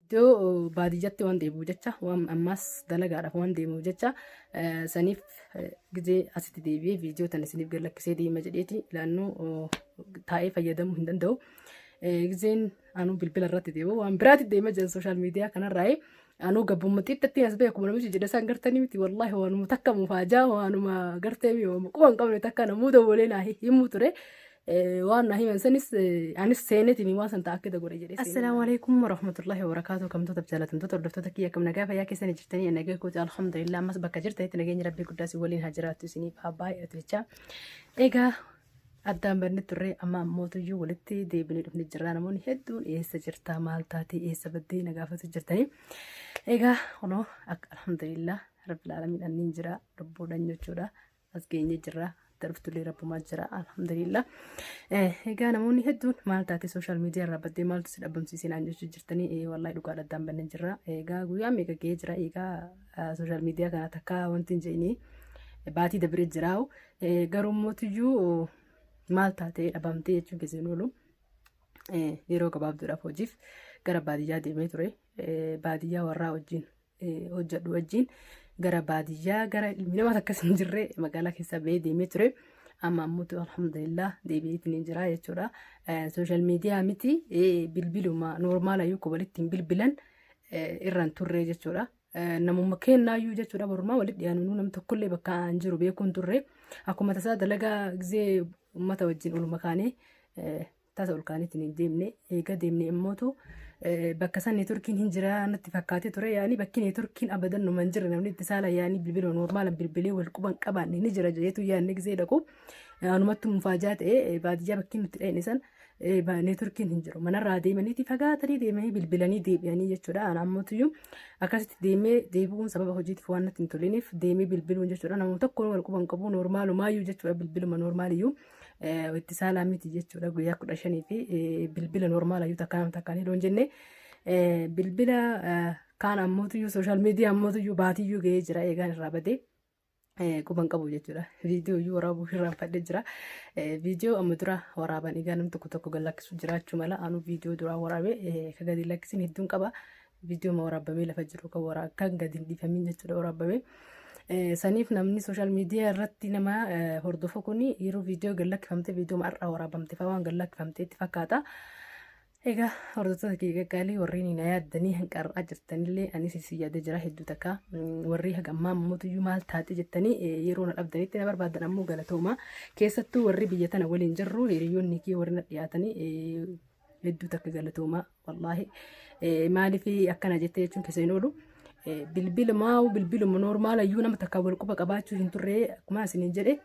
Iddoo baadiyyatti waan deebi'u jecha waan ammaas dalagaadhaaf waan deemuuf jecha saniif gizee asitti deebi'ee viidiyoo tan isiniif gallakkisee deema jedheeti laannoo taa'ee fayyadamuu hin danda'u. Gizeen anuu bilbila irratti deemu waan biraatti deema jiran sooshaal miidiyaa kanarraa'ee anuu gabbummaa xixiqqatti as ba'e akkuma namichi jedhe isaan gartanii miti wallaahi waanuma takka mufaajaa waanuma gartee mi'ooma quba hin qabne takka namuu dawwalee naa himuu ture. waan naa himan sanis anis seenetiin waan san ta'a akka da godhe jedhee. Assalaamu alaikum warahmatullahi wabarakaatu kamtoota jaallatamtoota hordoftoota kiyya kam nagaa fayyaa keessanii jirtanii nagaa kooti alhamdulillah ammas bakka jirtanitti nageenyi rabbii guddaa si waliin haa jiraattu isiniif haa baay'atu jecha. Egaa addaan barnee turre amma mootuyyuu walitti deebinee dhufne jirra namoonni hedduun eessa jirta maal taatee eessa baddee na gaafatu jirtanii. Egaa kunoo alhamdulillah rabbil aalamiin anniin jira lubbuudhaan jechuudha. as geenye jirra darbtullee rabbumaa jira alhamdulillah egaa namoonni hedduun maal taate sooshaal miidiyaa irraa baddee maaltu si dhabamsiisee naan jechuu jirtanii ee wallaahi dhugaa dhaddaan bannee jirra egaa guyyaa meeqa ga'ee jira egaa sooshaal miidiyaa kana takka wanti hin jeenii baatii dabree jiraa'u garuu mootiyyuu maal taatee dhabamtee jechuun keessa hin oolu yeroo gabaabduudhaaf hojiif gara baadiyyaa deemee ture baadiyyaa warraa wajjin hojjedhu wajjin gara baadiyyaa gara ilmi namaa akkas hin jirre magaalaa keessa ba'ee deemee ture. Amma ammoo alhamdulillah deebi'eetiin hin jira jechuudha. Sooshaal miidiyaa miti bilbiluma noormaala yoo walitti hin bilbilan irraan turre jechuudha. Namuma kennaayyuu jechuudha barumaa walitti dhiyaanuu nam tokkollee bakka aan jiru beekuun turre. Akkuma tasaa dalagaa gizee uummata wajjin oluma kaanee tasa ol kaaniitiin hin deemne eega deemne immootu bakka san neetworkiin hin jira natti fakkaatee ture yaani bakki neetworkiin abadan numa hin jirre namni itti saala yaani bilbila noormaala bilbilee wal quban qabaanne ni jira jeetu yaanni gisee dhaqu anumattu mufaajaa ta'e baadiyyaa bakki nutti dha'ine san neetworkiin hin jiru manarraa deemaniiti fagaatanii deemanii bilbilanii deebi'anii jechuudha ana ammotuyyuu akkasitti deemee deebi'uun sababa hojiitiif waan natti hin toliniif deemee bilbiluun jechuudha nama tokko wal quban qabu noormaalumaayyuu jechuudha bilbiluma noormaaliyyuu. itti saalaa miti jechuudha guyyaa kudha shanii fi bilbila normaala yoo takkaan takkaan hidhoo hin jenne bilbila kaan ammootiyyuu sooshaal miidiyaa ammootiyyuu baatiyyuu ga'ee jira eegaan irraa badee. Quban qabu jechuudha. Viidiyoo iyyuu waraabuu irraan fadhee jira. Viidiyoo amma dura waraaban egaa namni tokko tokko gad lakkisuu jiraachuu mala. Anu viidiyoo duraa waraabee kan gadi lakkisiin hedduun qaba. viidiyoo ma waraabamee lafa jiru kan waraa akkaan gadi hin dhiifamiin jechuudha waraabamee. Saniif namni sooshaal miidiyaa irratti nama hordofu kun yeroo viidiyoo gad lakkifamte viidiyoo har'aa waraabamte fa'aa waan gad lakkifamteetti fakkaata. Egaa hordoftoota kee gaggaalii warreen na yaaddanii hanqarraa jirtanillee anis isin yaadee jira hedduu takka warri haga ammaa mootuyyuu maal taate jettanii yeroo na dhabdanitti na barbaadan ammoo galatooma keessattuu warri biyya tana waliin jirru hiriyoonni kee warri na dhiyaatanii hedduu takka galatoomaa. wallaahi maaliif akkana jettee jechuun keessa hin oolu. Bilbila maa'u bilbiluma noormaala iyyuu nama takka wal quba qabaachuu hin turre akkuma isiniin jedhe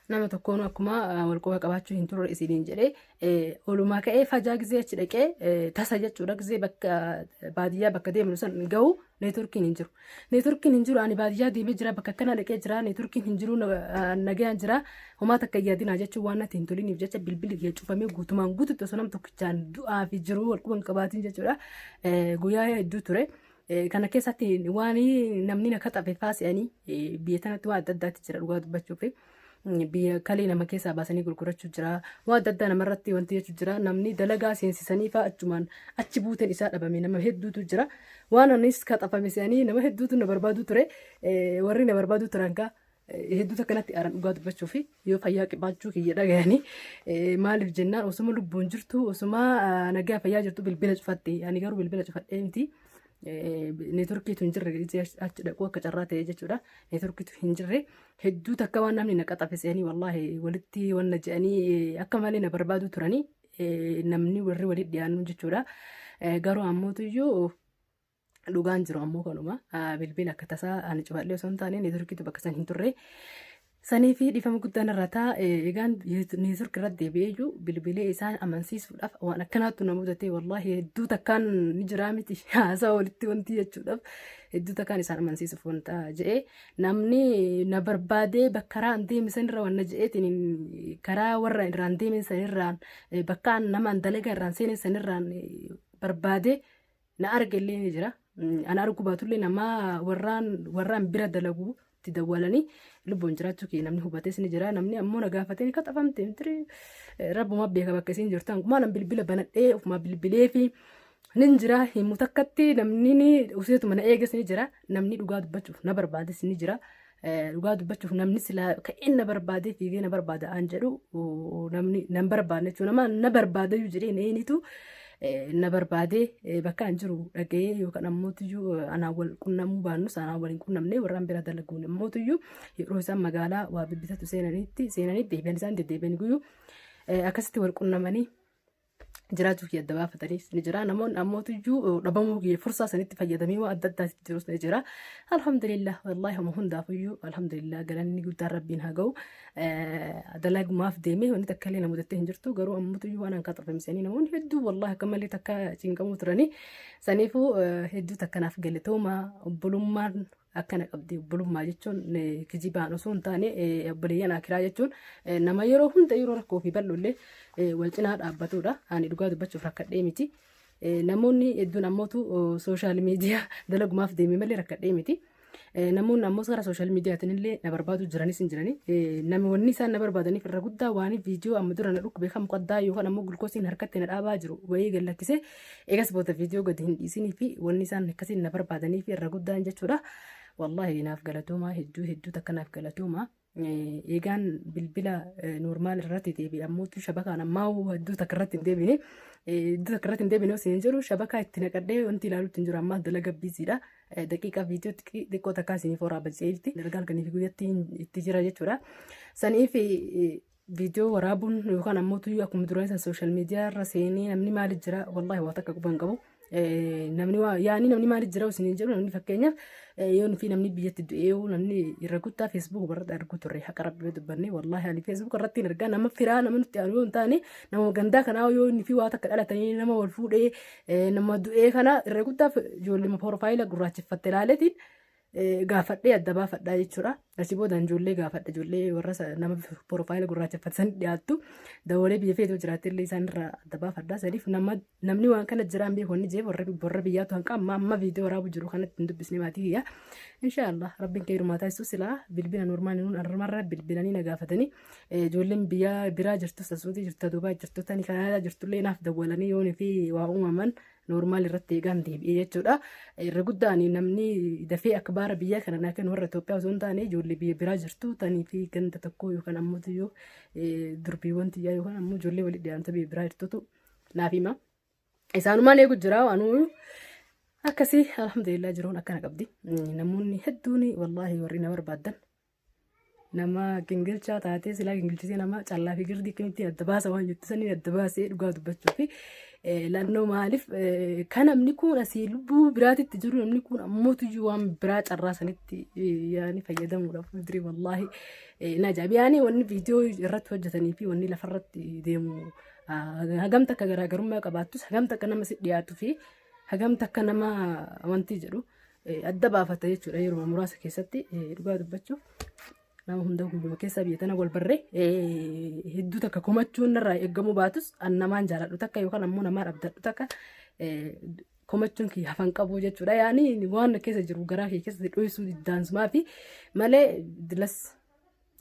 nama tokkoon akkuma wal quba qabaachuu hin turre isiniin jedhe olumaa ka'ee fajaa gizee achi dhaqee tasa jechuudha gizee bakka baadiyyaa bakka deemnu san gahu neetworkiin hin jiru. Neetworkiin hin jiru ani baadiyyaa deemee jira bakka akkanaa dhaqee jira neetworkiin hin jiru nagayaan jira homaa takka yaadinaa jechuun waan natti hin toliniif jecha bilbilli kiyya cufamee guutumaan guututti osoo nam tokkichaan du'aa fi jiruu wal quban qabaatiin jechuudha guyyaa hedduu ture. Kana keessatti waan namni na kaxafe faasi'anii biyya tanatti waan adda addaatti jira dhugaa dubbachuuf. biyya kalii nama keessaa baasanii gurgurachuu jira waa adda addaa namarratti wanti jechuu jira namni dalagaa seensisanii faa achumaan achi buuteen isaa dhabame nama hedduutu jira waan anis kaxafame se'anii nama hedduutu na barbaaduu ture Eh, warri na barbaaduu turan kaa eh, hedduutu akkanatti aaran dhugaa dubbachuu fi yoo fayyaa qibaachuu kiyya dhagayanii eh, maaliif jennaan osuma lubbuun jirtu osuma ah, nagaa fayyaa jirtu bilbila cufatte ani garuu bilbila cufadhee miti neetworkiitu hin jirre achi dhaquu akka carraa ta'e jechuudha. Neetworkiitu hin jirre hedduu takka waan namni na qaxafisanii wallaahi walitti wanna je'anii akka malee na barbaadu turanii namni warri walitti dhiyaannu jechuudha. Garuu ammootiyyuu dhugaan jiru ammoo kanuma bilbila akka tasaa ani cufadhee osoo hin taane neetworkiitu bakka san hin turre. Saniifi dhiifama guddaan irra taa egaan neetwork irratti deebi'ee iyyuu bilbilee isaan amansiisuudhaaf waan akkanaattu na mudatee wallaahi hedduu takkaan ni jiraa miti haasaa walitti wanti jechuudhaaf hedduu takkaan isaan amansiisuuf wanta je'ee namni na barbaadee bakka irraan deeme sanirra waan na je'eetiin karaa warra irraan deeme sanirraan bakka nama dalagaa irraan seene sanirraan barbaadee na argellee ni jira. Mm, Ana arguu baatullee nama warraan warraan bira dalagu itti dawwalanii lubbuun jiraachuu kee namni hubates ni jira. Namni ammoo na gaafatee ni qaxafamte mitirii Eh, rabbuma beeka bakka isiin jirtu. Hangumaa nan bilbila banadhee ofumaa bilbilee fi nin jira himu takkatti namni ni useetuma na eeges ni jira. Namni dhugaa dubbachuuf na barbaades ni jira. Dhugaa dubbachuuf namni silaa ka'een na barbaadee fiigee na barbaada aan jedhu namni nan barbaadne jechuudha. Nama na barbaadayyuu jedhee na eenitu na barbaadee bakka an jiru dhaga'ee yookaan ammootiyyuu anaan wal qunnamuu baannus anaan wal hin qunnamne warraan bira dalaguun ammootiyyuu yeroo isaan magaalaa waa bibbitatu seenanitti seenanii deebi'an isaan deddeebi'an guyyuu akkasitti wal qunnamanii jiraachuu kiyya adda baafatanis ni jira. Namoonni ammootu iyyuu dhabamuu kiyya fursaa sanitti fayyadamee waan adda addaa itti jirus ni jira. Alhamdulillah wallahi homa hundaaf iyyuu alhamdulillah galanni guddaan rabbiin haa ga'u. Dalagumaaf deemee wanti takka illee na mudattee hin jirtu garuu ammootu iyyuu waan hanqaa xurfamsanii namoonni hedduu wallahi akka malee takka cinqamuu turanii saniifuu hedduu takka naaf galatooma obbolummaan akkana qabdi obbolummaa jechuun kijibaan osoo hin taane obboleeyyan akiraa jechuun nama yeroo hunda yeroo rakkoo fi bal'ollee wal cinaa dhaabbatudha. Ani dhugaa dubbachuuf rakkadhee miti. Namoonni hedduun ammootu sooshaal miidiyaa dalagumaaf deemee malee rakkadhee miti. Namoonni ammoo gara sooshaal miidiyaatiin illee na barbaadu jiranis hin jirani. Namni wanni isaan na barbaadaniif irra guddaa waan viidiyoo amma dura na dhukkube kan muqaddaa yookaan ammoo gulkoosiin harkatti na dhaabaa jiru wayii gallakkisee Eegas booda viidiyoo gadi hin dhiisinii fi wanni isaan akkasiin na barbaadanii fi irra guddaan jechuudha. Wallaahi naaf galatoomaa hedduu hedduu takka naaf galatoomaa. Eegaan bilbila normaal irratti deebi'e ammoo shabakaan ammaa hedduu takka irratti hin deebine. Hedduu takka irratti hin deebine osoo hin jiru shabakaa itti naqadhee wanti ilaaluutti hin jiru ammaa dalaga biisiidha. Daqiiqaa viidiyoo xiqqoo takkaa isiniif horaa bajjee jirti. Dalagaa halkanii fi guyyatti itti jira jechuudha. Saniif viidiyoo waraabuun yookaan ammoo tuyyuu akkuma duraan san sooshaal miidiyaa irra seenee namni maali jira wallaahi waa takka quban qabu. Namni waa yaani namni maali jira osoo hin jedhu namni fakkeenyaaf yoo nuti namni biyyatti du'ee namni irra guddaa feesbuuk irratti argu turre haqa rabbii dubbanne wallaahi ani feesbuuk irratti hin argaa nama firaa nama nutti aanu yoo hin taane nama gandaa kanaa yoo inni fi waa takka dhalatanii nama wal fuudhee nama du'ee kana irra guddaa ijoollee piroofaayila gurraacheffatte ilaaleetiin gaafadhee adda baafadhaa jechuudha. Asii booda ijoollee gaafadha ijoollee warra nama piroofaayila gurraacheffatan dhiyaattu dawoolee biyya feetuu jiraatti illee isaanirraa adda baafadhaa saniif namni waan kana jiraan beeku inni jeef warra biyyaatu hanqa amma amma viidiyoo waraabu jiru kanatti hin dubbisne maatii kiyya. Inshaallah rabbiin kee hirmaataa ibsu silaa bilbila normaal nuun armarra bilbilanii na gaafatanii ijoolleen biyya biraa jirtu sasuutii jirtu duubaa jirtu tani kanaadaa jirtullee naaf dawwalanii yoon fi waa uumaman Noormaal irratti eegaan deebi'ee jechuudha. Irra guddaan namni dafee akka baara biyyaa kana naa kennu warra Itoophiyaa osoo hin taane ijoollee biyya biraa jirtu tanii fi ganda tokko yookaan ammoo yoo durbiiwwan tiyyaa yookaan ammoo ijoollee walitti dhiyaanta biyya biraa jirtutu naaf hima. Isaanumaan eegu jira waanuu akkasii alhamdulillah jiruun akkana qabdi. Namoonni hedduun wallaahi warri na barbaadan Nama gingilchaa taatee silaa gingilchisee nama callaa fi girdii akkamitti adda baasa waan jettu sanii adda baasee dhugaa dubbachuu fi lannoo maaliif kan namni kun asii lubbuu biraatitti jiru namni kun ammootuyyuu waan biraa carraa sanitti yaani fayyadamuudhaaf fuuldurii wallaahi na jaabi yaani wanni viidiyoo irratti hojjetanii fi wanni lafarratti deemu hagamta akka garaagarummaa qabaattus hagamta akka nama si dhiyaatu fi Hagam takka nama amantii jedhu eh, adda baafata jechuudha yeroo muraasa keessatti eh, dhugaa dubbachuuf nama hunda guyyuma keessaa biyya tana wal barree eh, hedduu takka komachuun narraa eegamuu baatus an namaan jaaladhu takka yookaan ammoo namaan abdadhu takka eh, komachuun kiyya hafan qabu jechuudha yaani waan na keessa jiru garaa kee keessatti dho'isuu diddaansumaa fi malee dilas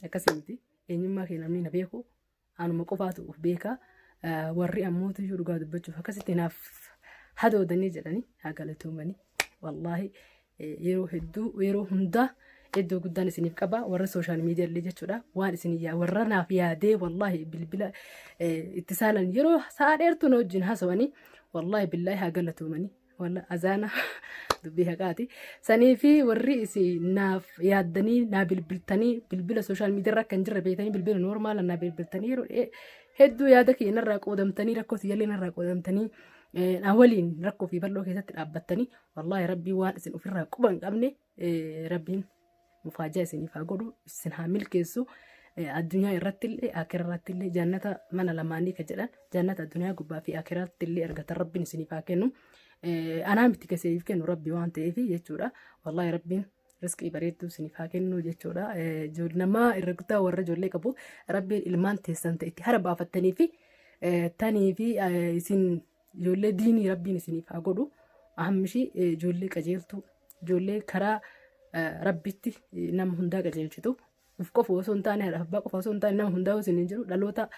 akkasii miti eenyummaa kee namni na beeku Anuma qofaatu of beeka. Warri ammootu iyyuu dhugaa dubbachuuf akkasitti naaf hadoodanii jedhanii haa galatoomanii. Wallaahi yeroo hedduu yeroo hundaa iddoo guddaan isiniif qaba warra sooshaal miidiyaa illee jechuudha waan isin yaa warra naaf yaadee wallaahi bilbila itti saalan yeroo sa'a dheertuu na wajjin haasawanii wallaahi billaahi haa galatoomanii Walla azaana dubbii haqaati. Sanii fi warri isin naaf yaaddanii naa bilbiltanii bilbila sooshaal miidiyaarra akka hin jirre beektanii bilbila noormaala naa bilbiltanii yeroo dhiyee hedduu yaada kiyya narraa qoodamtanii rakkoo siyyallee narraa qoodamtanii eh, na waliin rakkoo fi bal'oo keessatti dhaabbattanii wallaahi rabbii waan isin ofirraa quba hin qabne Rabbiin mufaajaa isiniif haa godhu isin haa milkeessu. Addunyaa irratti illee akira irratti illee jannata mana lamaanii ka jedhan jannata addunyaa gubbaa fi akira irratti illee argatan rabbiin isiniif haa kennu. Anaa miti keseef kennu rabbi waan ta'eef jechuudha. Wallaahi rabbiin riskii bareedduu isiniif haa kennu jechuudha. Namaa irra guddaa warra ijoollee qabu rabbiin ilmaan teessan ta'etti hara baafattanii fi tanii fi isin Ijoollee diinii rabbiin isiniif haa godhu. Ahammishii eh, ijoollee qajeeltuu, ijoollee karaa eh, rabbitti eh, nama hundaa qajeelchitu. Uf qofa osoo hin taane, haadha abbaa qofa osoo hin taane nama hundaa isin hin jiru. Dhaloota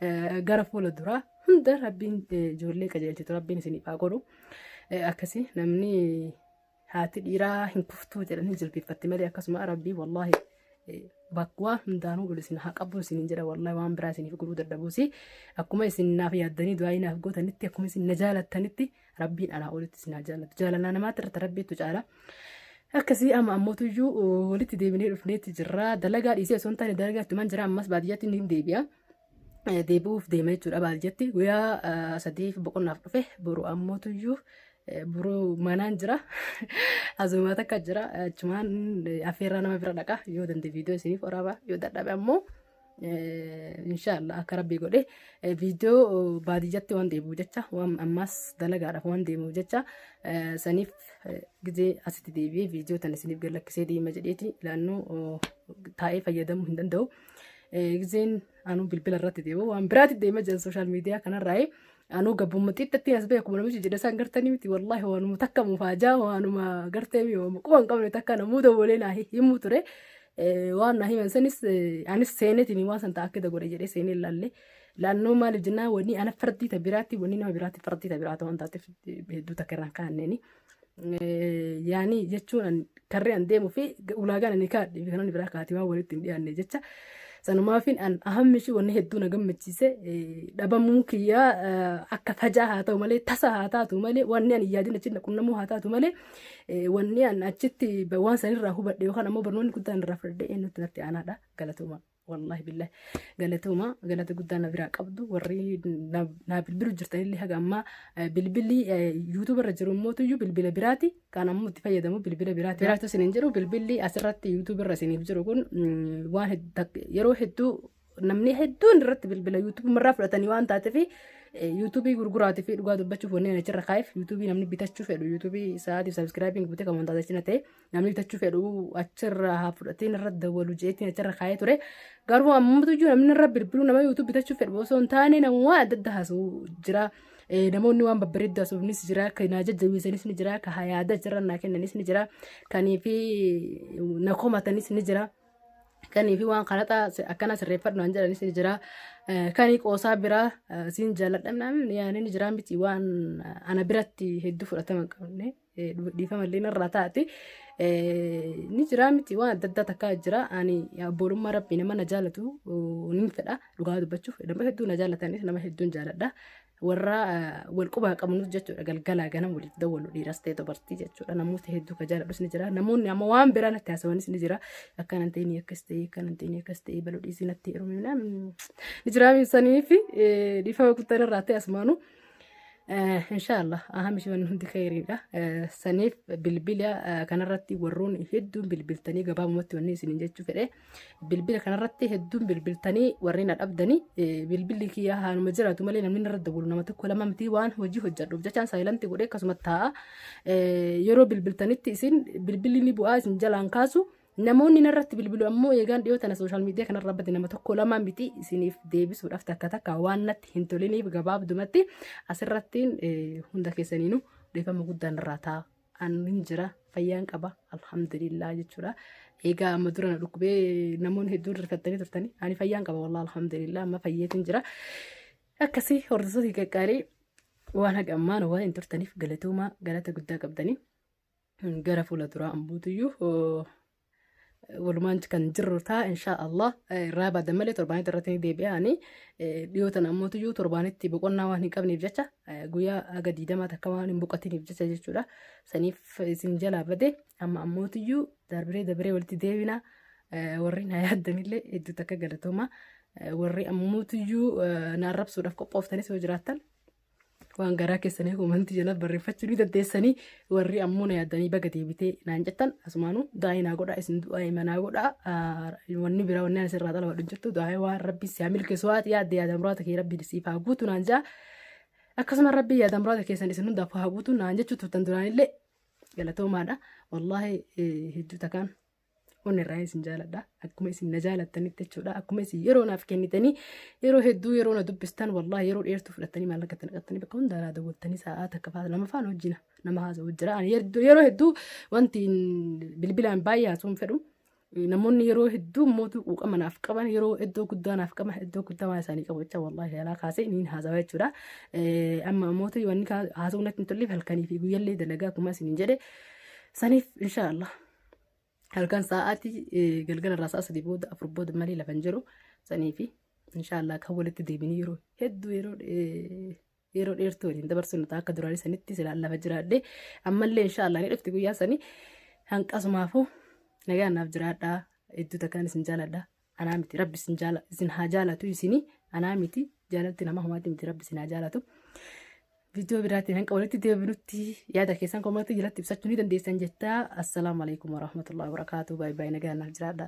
eh, gara fuula duraa hunda rabbiin eh, ijoollee qajeelchitu rabbiin isiniif haa godhu. Eh, Akkasii namni haati dhiiraa hin kuftuu jedhanii jilbiiffatte malee akkasuma rabbii wallaahi bakkuma hundaanuu ol isin haa qabu isin jedha wallaahi waan biraa isiniif godhuu dadhabuusi akkuma isin naaf yaaddanii du'aa naaf gootanitti akkuma isin na jaalattanitti rabbiin anaa olitti isin haa jaallatu jaalalaa namaatti irratti rabbiitu caala. Akkasii amma ammootu iyyuu walitti deebinee dhufneetti jirra dalagaa dhiisee osoo hin taane dalagaa itti man jira ammas baadiyyaatti ni deebi'a. deebi'uuf deema jechuudha baal jetti guyyaa sadiif boqonnaaf dhufe boru ammoo tuyyuu boru manaan jira azumaa takka jira achumaan affeerraa nama bira dhaqa yoo dande viidiyoo isiniif waraaba yoo dadhabe ammoo inshaallah akka rabbii godhe viidiyoo baadiyyatti waan deebi'u jecha waan ammaas dalagaadhaaf waan deemu jecha saniif gizee asitti deebi'ee viidiyoo tan isiniif gallakkisee deema jedheeti ilaannoo taa'ee fayyadamuu hin danda'u. Gizeen anuu bilbila irratti deemu waan biraatti deema jiran sooshaal miidiyaa kanarraa anuu gabbumma xixiqqatti as ba'e akkuma namichi jedhe isaan gartanii miti wallaahi waanuma takka mufaajaa waanuma gartee mi'ooma quba hin qabne takka namuu dawwalee naa himuu ture waan naa himan sanis anis seenetiin waan san ta'a akkita godhe jedhee seenee ilaalle laannoo maaliif jennaan wanni ana fardii ta biraatti wanni nama biraatti fardii ta biraata waan taateef hedduu takka irraan kaanneeni. yaanii jechuun karree an deemuu fi ulaagaan ani kaadhe fi kanan biraa kaatee waan walitti hin dhiyaanne jecha sanumaafin an ahammi ishii wanni hedduu na gammachiise dhabamuun kiyyaa akka fajaa haa ta'u malee tasa haa taatu malee wanni an yaadin achitti na qunnamuu haa taatu malee wanni an achitti waan sanirraa hubadhe yookaan ammoo barnoonni guddaan irraa fudhadhe eenyutti natti aanaadha galatooma. Wallaahi billahi galatooma galata guddaa na biraa qabdu warri naa bilbilu jirtan illee haga ammaa bilbilli yuutuuba irra jiru immoo tuyyuu bilbila biraati kan ammoo itti fayyadamu bilbila biraati. Biraatu isin hin jiru bilbilli asirratti yuutuuba irra isiniif jiru kun waan yeroo hedduu namni hedduun irratti bilbila yuutuuba irraa fudhatanii waan taateef yuutuubii gurguraatii fi dhugaa dubbachuuf wanneen achirra kaa'eef yuutuubii namni bitachuu fedhu yuutuubii sa'aatiif sabiskiraabiin guutee kan wantaata achina ta'e Namni bitachuu fedhu achirra haa fudhatiin irra dawwalu jeetiin achirra kaa'ee ture. Garuu ammatu iyyuu namni irra bilbiluu nama yuutuub bitachuu fedhu osoo hin taane nama waan adda addaa haasa'u jira. Eh, Namoonni waan babbareeddu haasofnis jira. Kan naa jajjabeessanis ni jira. Kan yaada achirra naa kennanis ni jira. Kanii fi na komatanis ni jira. Kanii fi waan karaxa akkana sirreeffadhu naan jedhanis ni jira. Eh, Kanii qoosaa biraa eh, siin jaalladha namni yaani ni jira miti waan eh, ana biratti hedduu fudhatama hin qabne. dhiifama illee narraa taate ni jira miti waan adda addaa takkaa jira ani abboolummaa rabbii nama na jaalatu nin fedha dhugaa dubbachuuf nama hedduu na jaalatanis nama hedduun jaaladha warra wal qubaa qabnus jechuudha galgalaa ganam waliif dawwalu dhiiras ta'e dubartii jechuudha namoota hedduu ka jaaladhus ni jira namoonni amma waan biraa natti haasawanis ni jira akka nan ta'e akkas ta'e akka nan ta'e akkas ta'e baluu dhiisii natti heerumina ni jira saniif dhiifama guddaa irraa ta'e asmaanuu. Eh, Inshaallah ahamish wanni hundi kheyriidha. Eh, Saniif bilbila eh, kanarratti warroon hedduun bilbiltanii gabaabumatti wanni isiniin jechuu fedhe bilbila kanarratti hedduun bilbiltanii warreen adhabdanii eh, bilbilli kiyyaa haaluma jiraatu malee namni narra dawwalu nama tokko lama miti waan hojii hojjadhuuf jechaan saayilanti godhee akkasuma taa'a. Eh, Yeroo bilbiltanitti isin bilbilli ni bu'aa isin jalaan kaasu Namoonni narratti bilbilu ammoo eegaan dhiyoo tana sooshaal miidiyaa kanarra bade nama tokko lamaa miti isiniif deebisuudhaaf takka takka waan natti hin toliniif gabaabdumatti asirrattiin eh, hunda keessaniinuu dhiifama guddaan irraa ta'a. Annin jira fayyaan qaba alhamdulillah jechuudha. Egaa amma dura na dhukkubee namoonni hedduun rifattanii turtanii ani fayyaan qaba wallah alhamdulillah amma fayyeetiin jira. Akkasii hordoftoota qaqqaarii waan haga ammaan waan hin turtaniif galatoomaa galata guddaa qabdanii. gara fuula duraa ambuutuyyuu walumaan kan jirru ta'a inshaa Allah irraa baadan malee torbaanitti irratti ni deebi'aani dhiyoo tana ammuutuyyuu torbaanitti boqonnaa waan hin qabneef jecha guyyaa aga diidamaa takka waan hin boqatiniif jecha jechuudha saniif isin jalaa bade amma ammuutuyyuu darbiree darbiree walitti deebina warri na yaaddanillee hedduu takka galatooma warri ammuutuyyuu na arrabsuudhaaf qophooftanis yoo jiraattan waan garaa keessanii komantii jala barreeffachuu ni dandeessanii warri ammoo na yaadanii baga deebitee naan jettan asumaanuu daa'ii naa godhaa isin du'aa manaa godhaa wanni biraa wanni anis irraa xalawadhu jirtu daa'ii waan rabbi siyaa milkeessu waati yaadde yaada muraata kee rabbi siif haa guutu naan jaa akkasuma rabbi yaada muraata keessan isin hundaaf haa guutu naan jechuu turtan duraanillee galatoomaadha wallaahi hedduu takaan Onirraa isin jaaladha. Akkuma isin na jaalattanitti jechuudha. Akkuma isin yeroo naaf kennitanii yeroo hedduu yeroo na dubbistan wallaahi yeroo dheertuu fudhattanii maallaqa itti naqattanii bakka hundaa naa daawwattanii sa'aa takka fa'aa lama fa'aan hojjina nama haasa'u jira. Ani yerdu- yeroo hedduu wanti bilbilaan baay'ee haasa'uu hin fedhu. Namoonni yeroo hedduu mootuu quuqama naaf qaban yeroo iddoo guddaa naaf qaban iddoo guddaa waan isaanii qabu jecha wallaahi yaalaa kaasee niin haasawa jechuudha. Eh, Amma mootuu wanni kaa- haasa'uu natti hin tolleef halkanii fi guyyallee dalagaa akkuma isin jedhe saniif inshaallah. halkan sa'aatii eh, galgala irraa sa'a sadii booda afur booda malee lafa hin jiru sanii fi inshaallah kan walitti deebinee yeroo hedduu yeroo eh, yeroo dheertuu waliin dabarsinu ta'a akka duraanii sanitti silaan lafa jiraadhe ammallee inshaallah ni dhufti guyyaa sanii hanqasumaafuu nagaan naaf jiraadhaa hedduu takkaan isin jaaladha anaa miti rabbi isin jaala isin haa jaalatu isini anaa miti jaalalti nama homaati miti rabbi isin haa jaalatu viidiyoo biraatiin hanqa walitti deebinutti yaada keessan komatii jalatti ibsachuu ni dandeessan jettaa assalaamu alaikum warahmatullahi wabarakaatu baay'ee baay'ee nagaa naaf jiraadha